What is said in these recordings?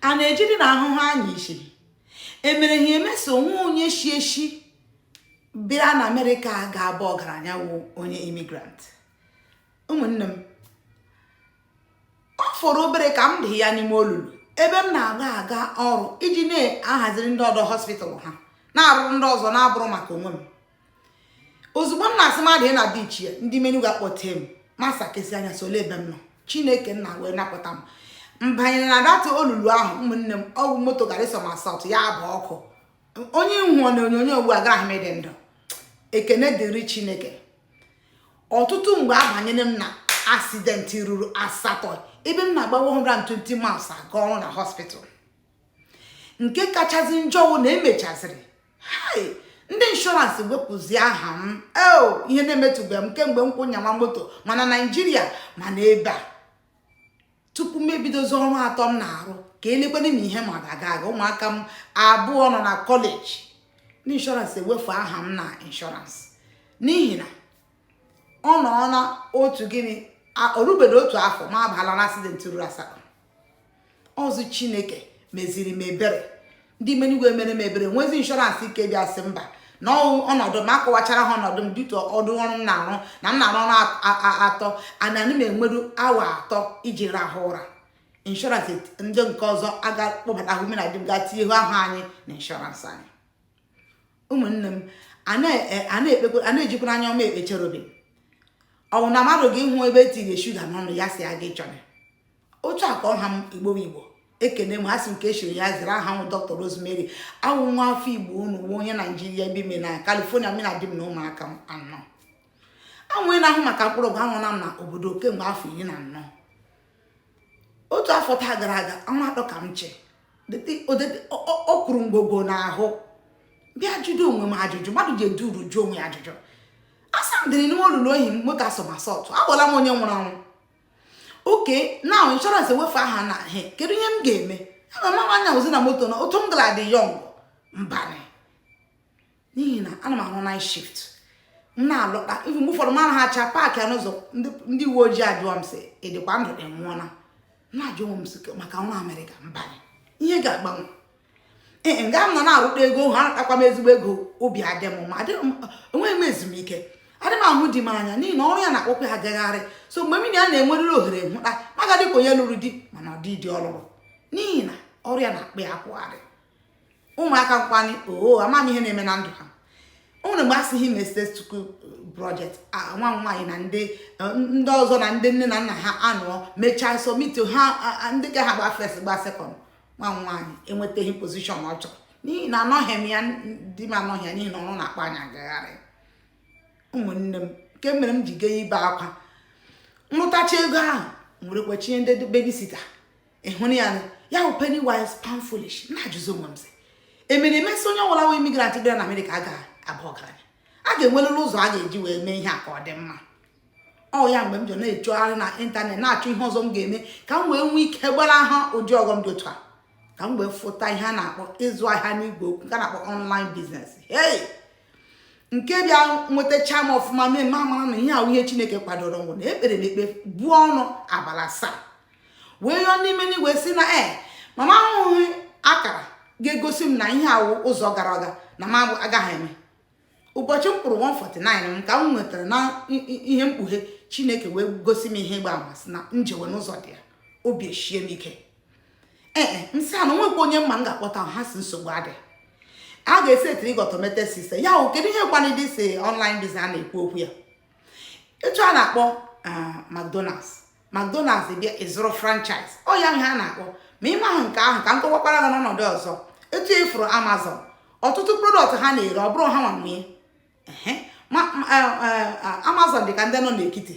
a na-ejiri na ahụhụ anya isi emere ha emeso nwa onye shi eshi bịa na amerịka ga-aba ọgaranya wụ onye immigrant ụmụnne m ọ fọrọ obere ka m dị ya n'ime olulu ebe m na-aga aga ọrụ iji na-ahaziri ndị ọdọ hospital ha na-arụrụ ndị ọzọ na-abụghị maka onwe m ozugbo m na-asị mmadụ na ndị ichie ndị m n'igwe akpọte m m asakesi anya sị lee ebe m nọ chineke nna wee napụta m m banyere na that olulu ahụ ụmụnne m ọ wụ moto gara ị somersault ya gbaa ọkụ onye ị hụ na onyonyo ugbu a agaghị m ịdị ndụ ekene dịrị chineke ọtụtụ mgbe abanyere m na asidenti ruru asatọ ebe m na-agba 120 miles aga ọrụ na hospital nke kachasị njọ wụ na emechaziri ndị inshọransị wepụzi aha m eo ihe na-emetụbe m kemgbe m kwụ nyawa moto ma na naijiria ma na ebe a tupu m ebidozi ọrụ atọ m na-arụ ka elekwana na ihe ma ọ ga-aga ụmụaka m abụọ nọ na kọleji ndị inshọransị ewefu aha m na inshọransị n'ihi na ọ nọ na otu gịnị o rubeghị otu afọ m abala na asidenti ruru asatọ ọ wụ chineke meziri m ebere ndị m n'igwe mere m ebere nwezi inshọransị ike dị asị mba na ọnọdụ m akọwachara ha ọnọdụ m dịtụ ụdị ọrụ m na-arụ na m na-arụ ọrụ atọ ana m enweru awa atọ iji rahụ ụra inshọransị ndị nke ọzọ aga kpọbata ahụ m na di m gaa tinye ahụ anyị na inshọransị anyị ụmụnne m a na-ejikwa anya ọma ekpe cherubim ọ wụ na mmadụ ga ịhụ ebe e tinyere shuga n'ọnụ ya si aga ịchọrọ otu a ka ọ ha m igbo igbo ekene m a sị nke e chiri ya zere aha m wụ dr rosemary awụ m nwa afọ igbo unu nwa onye naijiria ebi m na california mụ na di m na ụmụaka m anọ awụ m onye na-ahụ maka mkpụrụ ọgwụ ahụ na m na obodo kemgbe afọ iri na anọ otu afọ taa gara aga ọnwa atọ ka m chịkọrọ ngwongwo m ahụ bịa jụdo onwe m ajụjụ mmadụ ji edu uru jụọ onwe ya ajụjụ a sị m dịrị n'ime olulu ahụ my car somersault abụla m onye nwụrụ anwụ okay na inshọrans ewefu aha m he kedu ihe m ga-eme ana m anyazi na moto na otu m gara dị young mbanụ n'ihi na ana m arụ night shift m na-alọta ọrụ mgbe ụfọdụ m arahacha paakịa n'ụzọ ndị uwe ojii ajụọ m sị ị dịkwa ndụ ka ị nwụọna na-ajụ m sị maka nwa amerịka mba ihe ga-agbanwe ee nga m nọ na-arụta ego ha akwụ m ezigbo ego obi adị m mma enweghị m ezumike adị m ahụ di m anya n'ihi na ọrụ ya na-akpọkwa ya gagharị sọ mgbe mụ na ya nwere ohere ịhụta m ga-adị ka onye lụrụ di mana ọ dị di ọ lụrụ n'ihi na ọrụ ya na-akpụ ya akpụgharị ụmụaka nkwanye oo oh, amaghị ihe na-eme na ndụ ha o nwere mgbe a sị ha meste tuku project nwa m nwaanyị na ndị ndị ọzọ na ndị nne na nna ha nọ mechaa sọmiti ha ndị ka ha gba fes gba sekọnd nwa m nwaanyị enwetaghị pozishọn ọ chọrọ n'ihi na anọghị m ya di m anọghị ya n'ihi na ọrụ na-akpụ anyị agagharị ụmụnne m nke mere m ji gee ibe akwa m rụtacha ego ahụ m were kwụchie ndị bebisita ịhụrụ ya ya bụ penny wise pound foolish na-ajụzi onwe m sị emere emesị onye ọbụla wụ imigrant bịara na amerịka a ga-aba ọgaranya a ga-enwerịrị ụzọ a ga-eji wee mee ihe a ka ọ dị mma ọ ya mgbe m ji na-achọgharị na ịntanetị na-achọ ihe ọzọ m ga-eme ka m wee nwee ike gbalaha ụdị ọghọm dị otu a ka m wee fụta ihe a na-akpọ ịzụ ahịa n'igwe okwu nke a na-akpọ online business hey nke bịa nwetacha m ọfụma mee m amara na ihe a wụ ihe chineke kwadoro wụ na ekpere na ekpe buo ọnụ abalị asaa wee yọọ n'ime n'igwe sị na e ma m ahụhụ akara ga-egosi m na ihe a wụ ụzọ gara aga na m agaghị eme ụbọchị m kwụrụ 149 m ka m nwetara na ihe mkpughe chineke wee gosi m ihe ịgba ama sị na m jewe na ụzọ dị ya obi eshie m ike ee eh, m sị ha na o nwekwa onye m ma m ga-akpọta ha sị nsogbu adị a ga-esetiri gị automated system ya wụ kedu ihe kwanụ this online biz a na-ekwu okwu ya etu a na-akpọ ah, McDonald's McDonald's bịa ịzụrụ franchise ọ ya ihe a na-akpọ ma ị mahụ nke ahụ ka m kọwakwara gị n'ọnọdụ ọzọ etu ị fụrụ e Amazon ọtụtụ prodọkt ha na-ere ọ bụrọ ha nwa nwe eh, eh, Amazon dị ka ndị nọ n'ekiti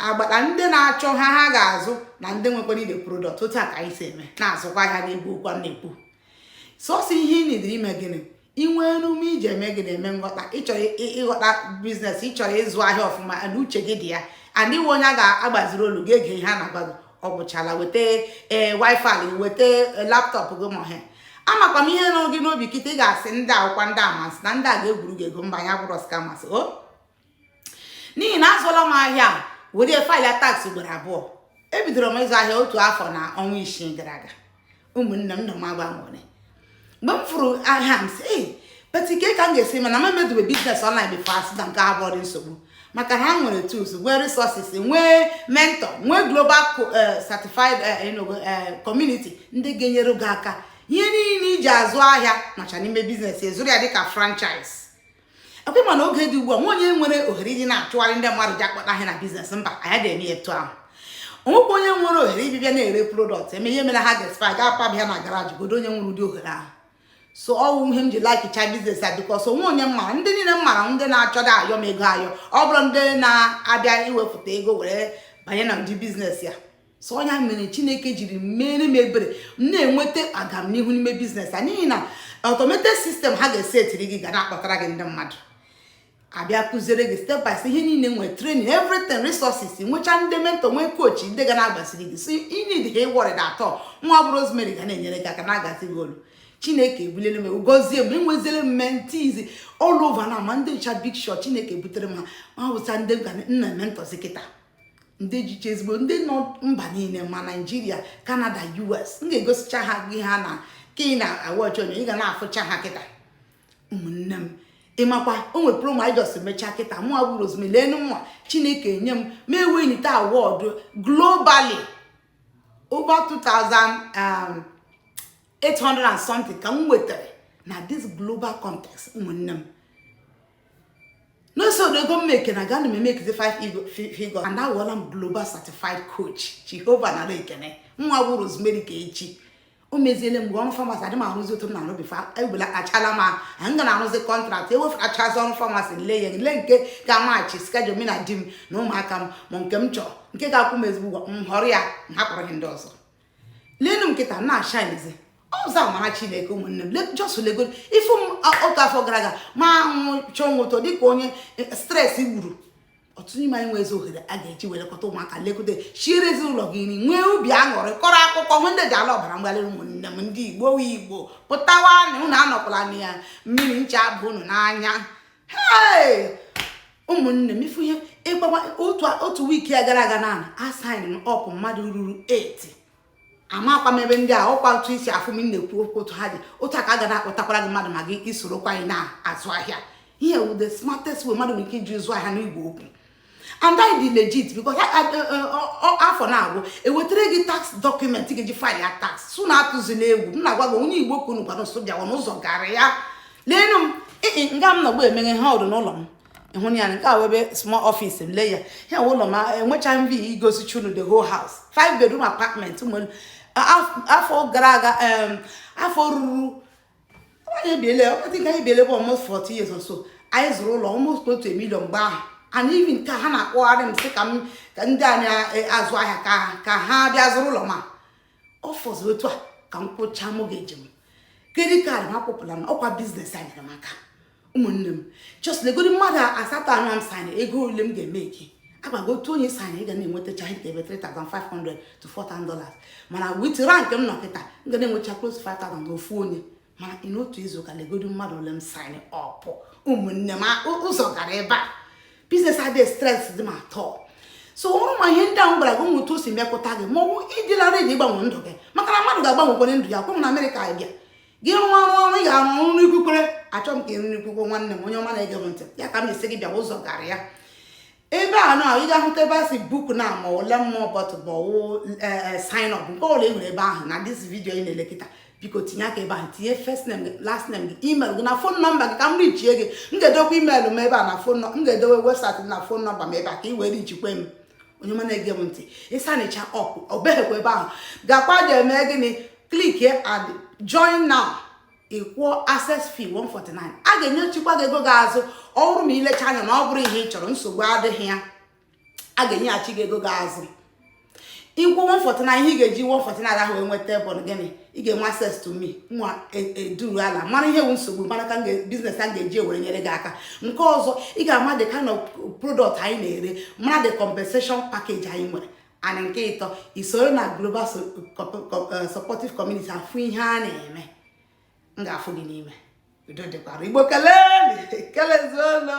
agbata ndị na-achọ ahịa ha ga-azụ na ndị nwekwara the prodọkt otu a ka anyị si eme na-azụkwa ahịa n'igwe okwu a na-ekwu sọsọ ihe ị nidere ime gịnị inwe enume iji eme gị na-eme nghọta ị chọrọ ịghọta biznes ị chọrọ ịzụ ahịa ọfụma na uche gị dị ya and ị wụ onye a ga-agbaziri olu gị ege ihe a na-agwa gị ọ gwụchala weta ee wifi gị weta e, laptop gị ma ọhịa amakwa m ihe nọ gị n'obi kịta ị ga-asị ndị a wụkwa ndị amasị na ndị a ga-egwuru gị ego mba anyị awụghị skamas o n'ihi na azụọla m ahịa a were faịlụ ya taks ugboro abụọ ebidoro m ịzụ ahịa otu afọ na ọnwa isii gara aga ụmụnne m nọ m agba nwere mgbe m fụrụ ahịa m si ee but kee ka m ga-esi mana m emedobe biznes ọnlaịn bifo ha sị na nke a abụdị nsogbu maka na ha nwere tools nwee resources nwee mentor nwee global co- eh, certified eh, you know, eh, community ndị ga-enyere gị aka ihe niile i ji azụ ahịa nọcha n'ime biznes ị zụrụ ya dịka franchise ekwe ma na oge dị ugbu a nwe onye nwere ohere iji na-achụgharị ndị mmadụ ji akpọta ha na biznes mba anyị adị eme etu ahụ o nwekwa onye nwere ohere ibibịa na-ere prodọkt eme ihe mere ha ga-eshipụ ga-apaba ya na garaji kedụ onye nwere ụdị ohere ahụ so ọ wụ ihe m ji laikicha biznes a bikos o nwe onye m mara ndị niile m mara ndị na-achọghị ayọ m ego ayọ ọ bụrọ ndị na-abịa iwepụta ego were banye na ụdị biznes ya so ya mere chineke jiri mere m ebere m na-enweta agamnihu n'ime business a n'ihi na automated system ha ga-esetiri gị ga na-akpọtara gị ndị mmadụ a bịa kụziere gị step by step ihe niile nwee training everything resources nwechaa ndị mentor nwee coach ndị ga na-agbasiri gị so ị need ha ịworry na atọ mụwa bụ rosemary ga na-enyere gị aka na-aguide gị olu chineke ebulele m gozie m enweziere m mentees all over na ma ndị ọcha big shot chineke butere m ha ma wụsa ndị m na-ementorzi kịta ndị jicha ezigbo ndị nọ mba niile ma naijiria kanada us m ga-egosicha ha gị ha na ka ị na-awatch onye ị ga na-afụcha ha kịta ụmụnne m ịmakwa o nwe promo anyị just mechaa kịta mụwa bụ Rosemary leenụ mụwa chineke enye m m ewinite award globally over 2800 um, and something ka m nwetara na this global contest ụmụnne m n'oso ụdị ego m make na ga na m emakezi 5 figure and awụọla m global certified coach jehova nara ekene mụwa bụ rosemary ka echi o meziele mgbe ọrụ pharmacy adị m arụzi otu m na-arụ before ebula achala m ahụ m ga na-arụzi contract eweferachazi ọrụ pharmacy m lee ya m lee nke ga-amatch schedule m na di m na ụmụaka m ma nke m chọrọ nke ga-akwụ m ezigbo ụgwọ m họrọ ya m hapụrụ ihe ndị ọzọ leenụ m kịta na-ashinezi ọ sọ amara chineke ụmụnne m just lego ifu m otu afọ gara aga ma anwụ chọọ nwụtọ dịka onye e, stres gburu ọtụtụ n'ime anyị enwezi ohere a ga-eji wee lekọta ụmụaka lekọta siere ezinụlọ gị nri nwee obi aṅụrị kọrọ akụkọ nwe ndị ji ala ọbara mgbali ụmụnne m ndị igbo igbo pụtawa na unu anọkwala na mmiri ncha baa unu n'anya ụmụnne m ị fụ ihe ịgbawa otu week a gara aga na-asign up mmadụ ruru 8 amakwa m ebe ndị a ọkwa otu i si afụ m na-ekwu okwu otu ha dị otu a ka a ga na-akpọtakwara gị mmadụ ma gị sorokwa anyị na-azụ ahịa ihe wụ the smartest way mmadụ nwere ike iji zụ ahịa n'igwe okwu and anyị dị legit because afọ na-agwụ e wetara gị tax document ị ga-eji file your tax so unu atụzina egwu m na-agwa gị onye igbo kwunu gwara nso bịawa n'ụzọ gara ya leenụ m ee nga m nọgbu eme ihe a ọ dụ n'ụlọ m ị hụ ya nke a wụ ebe small office m lee ya ya ụlọ m enwecha m ike igosicha unu the whole house five bedroom apartment afọ gara aga afọ ruru almost 4 years or so anyị zụrụ ụlọ almost otu million mgbe ahụ and even ka ha na-akpọgharị m sị ka m ka ndị anyị e, azụ ahịa ka ka ha bịa zụrụ ụlọ ma ọ fọziri otu a ka m kwụchaa mortgage m credit card m akwụpụla m ọkwa business a nyere m aka ụmụnne m just legodi mmadụ asatọ anọ m sign ego ole m ga-eme ike agbago otu onye sign ị ga na-enwetacha ihe ebe 3500 to 4000 dollars mana with rank m nọ kịta m ga na-enwecha close 5000 na ofu onye mana ị n'otu izu ka legodi mmadụ ole m sign up ụmụnne m ụzọ gara ebe a business adịghị stress dị m atọ so ọrụ ma ihe ndị ahụ gwara gị ụmụ otu o si mepụta gị ma ọ bụ ị dịla ready ịgbanwe ndụ gị maka na mmadụ ga-agbanwekwere ndụ ya kwụ na amerịka bịa gị rụọ ọrụ ọrụ ị ga-arụ ọrụ n'ikwukwere achọ m ka ị nwee okwukwe nwanne m onye ọma na-ege m ntị ya ka m asị gị bịa ụzọ gara ya ebe a na ị ga-ahụta ebe a sị book now ma ọ learn more button ma ọwụ sign up nke ọla e nwere ebe ahụ na this video ị na-ele kịta biko tinye aka ebe ahụ tinye first name gị last name gị email gị na phone number gị ka m reachie gị m ga-edokwa email m ebe a na phone m ga-edowe website na phone number m ebe a ka ị wee reachikwa m onye ọma na-ege m ntị ị signicha up ọ beghịkwa ebe ahụ gakwa ga-eme gịnị click here and join now ị kwụọ access fee 149 a ga-enyechikwa gị ego gị azụ ọ bụrụ ma i lecha anya na ọ bụrọ ihe ị chọrọ nsogbu adịghị ya a ga-enyechi gị ego gị azụ ị kwụọ 149 ihe ị ga-eji 149 ahụ wee nweta bụ gịnị ị ga-enwe access to me nwa eduru ala mara ihe bụ nsogbu mara ka business a ga-eji wee nyere gị aka nke ọzọ ị ga-ama the kind of product anyị na-ere mara the compensation package anyị nwere and nke ịtọ i soro na global eh, supportive community afụ ihe a na-eme m ga-afụ gị n'ime udo dịkwara igbo kelee kelezuolo